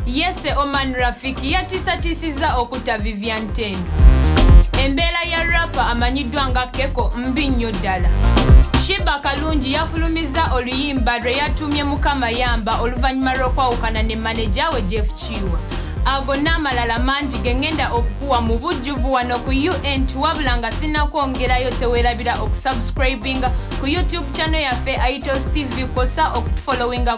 Yese Oman Rafiki yatiisatiisizza okutta Vivian Tendo. Embeera ya rapa amanyiddwa nga Keko mbi nnyo ddala. Shiba Kalungi yafulumizza oluyimba lwe yatuumye Mukama Yamba oluvannyuma lw'okwawukana ne maneja we Jeff Kiiwa. Ago n'amalala mangi ge ngenda okukuwa mu bujjuvu wano ku UNT wabula nga sinnakwongerayo teweerabira okusubscribinga ku YouTube channel yaffe Aitos TV kwosa okutufollowinga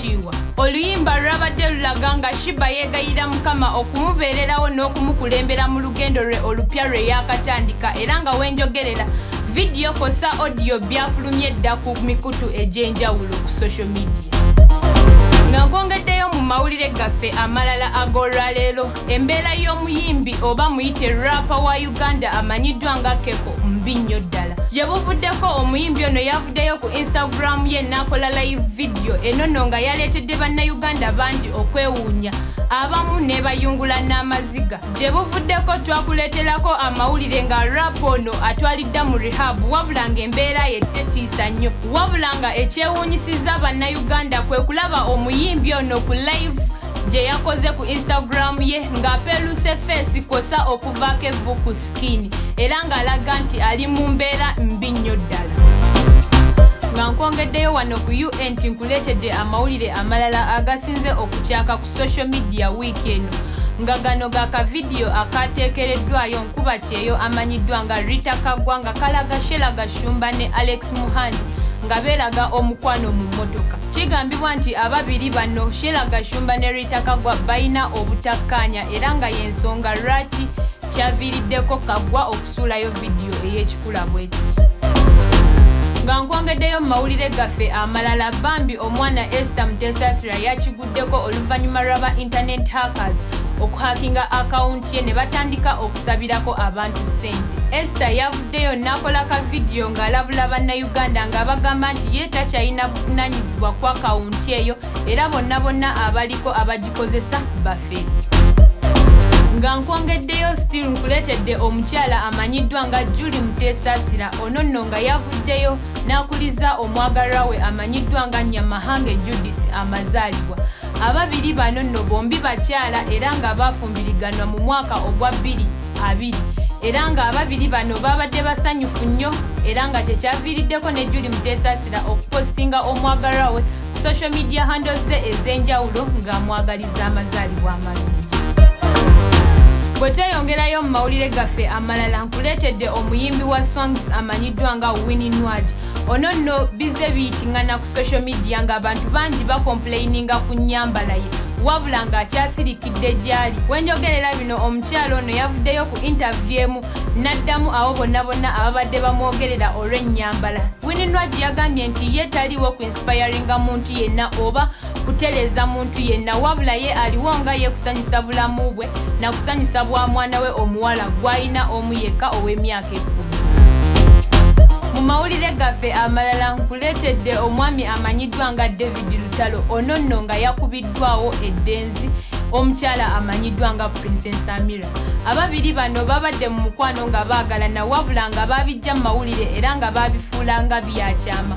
kiiwa oluyimba lulabadde lulaga nga shiba yeegayira mukama okumubeererawo n'okumukulembera mu lugendo lwe olupya lwe yaakatandika era nga wenjogerera vidiyo kosa odiyo byafulumye dda ku mikutu egy'enjawulo ku social media nga nkwongeddeyo mu mawulire gaffe amalala ag'olwaleero Embeera y'omuyimbi oba muyite rapa wa Uganda amanyiddwa nga Keko mbi nnyo ddala. Gye buvuddeko omuyimbi ono yavuddeyo ku Instagram ye n'akola live vidiyo enono nga yaleetedde bannayuganda bangi okwewuunya abamu nebayungula n'amaziga. Gye buvuddeko twakuleeterako amawulire nga rapa ono atwalidda mu rehab wabula ng'embeera ye tetiisa nnyo wabula nga ekyewuunyisizza bannayuganda kwe kulaba omuyimbi ono ku live gye yakoze ku instagram ye ng'apeeluse feesi kwosa okuvaako evvu ku sikini era ng'alaga nti ali mu mbeera mbi nnyo ddala nga nkwongeddeyo wano ku un nti nkuleetedde amawulire amalala agasinze okukyaka ku social media wiiki eno nga gano ga kavidiyo akaateekereddwayo nkuba kyeyo amanyiddwa nga rita kagwa nga kalaga shela gashumba ne alex muhandi nga beeraga omukwano mu mmotoka Kigambibwa nti ababiri bano Sheila Gashumba ne Rita Kagwa balina obutakkaanya era nga y'ensonga lwaki kyaviiriddeko Kagwa okusuulayo vidiyo ey'ekikula bwe kiti. Nga nkwongeddeyo mu mawulire gaffe amalala bambi omwana Esther Mutesasira yakiguddeko oluvannyuma lwa ba internet hackers okuhakinga akawunti ye ne batandika okusabirako abantu ssente. Esther Deyo nakola ka vidiyo ng'alabula bannayuganda ng'abagamba nti ye takyalina buvunaanyizibwa ku akawunti eyo era bonna bonna abaliko abagikozesa bafe nga nkwongeddeyo still nkuleetedde omukyala amanyiddwa nga juli muteesaasira ono nno nga yavuddeyo n'akuliza omwagalwa we amanyiddwa nga nyamahange judith amazaalibwa ababiri bano nno bombi bakyala era nga baafumbiriganwa mu mwaka ogwa bbiri abiri era nga ababiri bano babadde basanyufu nnyo era nga kyekyaviiriddeko ne juli muteesaasira okupostinga omwagalwa we ku social media handles ze ez'enjawulo ng'amwagaliza amazaalibwa amalungi bwe tweyongerayo mu mawulire gaffe amalala nkuleetedde omuyimbi wa songs amanyiddwa nga winnie nwaj ono nno bizze biyitingana social media ng'abantu bangi bakompuleyininga ku nnyambala ye wabula ng'akyasirikidde gy'ali wenjogerera bino omukyalo ono yavuddeyo ku intaviyu emu n'addamu abo bonna bonna ababadde bamwogerera olw'ennyambala wininwagi yagambye nti ye taliwo ku insipayaringa muntu yenna oba kutereeza muntu yenna wabula ye aliwo nga ye kusanyusa bulamu bwe na kusanyusa bwa mwana we omuwala gw'alina omu yekka ow'emyaka mu mawulire gaffe amalala nkuleetedde omwami amanyiddwa nga david lutalo ono nno nga yakubiddwawo eddenzi omukyala amanyiddwa nga princess amira ababiri bano babadde mu mukwano nga baagalana wabula nga baabijja mu mawulire era nga baabifuula nga byakyama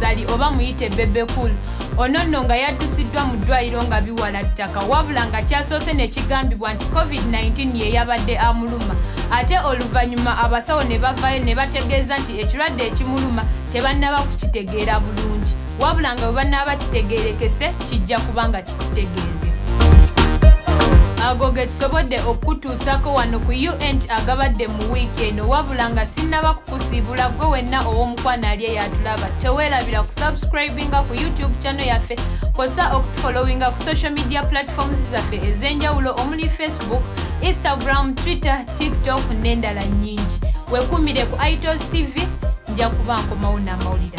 Sali oba muyite Bebe Cool ono nno nga yaddusiddwa mu ddwaliro nga biwala ttaka wabula nga kyasoose ne kigambibwa nti covid-19 ye yabadde amuluma ate oluvannyuma abasawo ne bavaayo ne bategeeza nti ekirwadde ekimuluma tebannaba kukitegeera bulungi wabula nga bwe bannaaba kitegeerekese kijja kubanga tutegeeze ago ge tusobodde okukutuusako wano ku unt agabadde mu wiiki eno wabula nga sinnaba kukusiibula gwe wenna ow'omukwano ali eyatulaba teweerabira ku subscribinga ku youtube channel yaffe kosa okutufollowinga ku social media platforms zaffe ez'enjawulo omuli facebook instagram twitter tiktok n'endala nnyingi wekumire ku itos tv nja kuba nkomawo n'amawulire